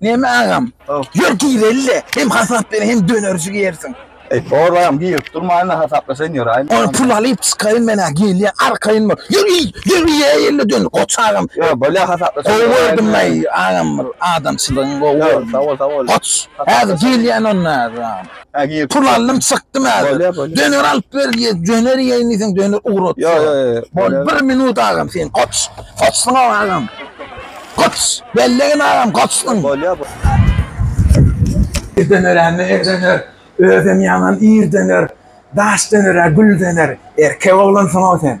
Näme agam? Ýör gireli-le, hem hasap ber, hem dönerji ýersiň. Eý, bor agam, girip durmaýyn-da, hasaplaşaýyn ýöräýin. Ony pul alyp çykaýyn men-ä, gelýän arkaýyn bol. Ýör, iý, ýör, iýäý ýöne dön, goç agam. Ýör, bolýa, hasaplaşaýyn. Gowy gördüm, eý, agam, bir adamçylygyňy gowy gördüm. Ýör, sag bol, sag bol. Goç, häzir gelýän onda, häzir agam. Ha gir. Pul aldym çykdym häzir. Bolýar, bolýar. Döner alyp ber diýe, döner ýeýin diýseň döner ugrat. Yo yo yo. Bol bolýar. bir minut agam sen koç. Koçsun agam. Koç. Bellegin agam koçsun. Bolýar. bu- Ir döner hem ir döner. Özem ýaman ir döner. Daş döner, gül döner. Erkek oglansyň-ow sen.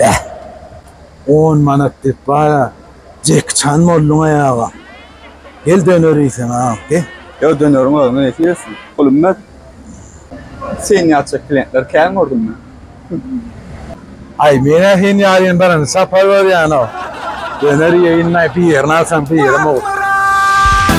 Beh. On manat dep bara Jeki Çan bolduň aýaga. Gel döner iýsen agam gel. Ýo döneriň özüne nesi ýetsin. Pul ümmet. Seni ýatjak klientler kän gördüm men. Aý menä seni ýaryň birinji sapar görýänok. Döner iýeýin naý bir ýerini alsaň birim owut.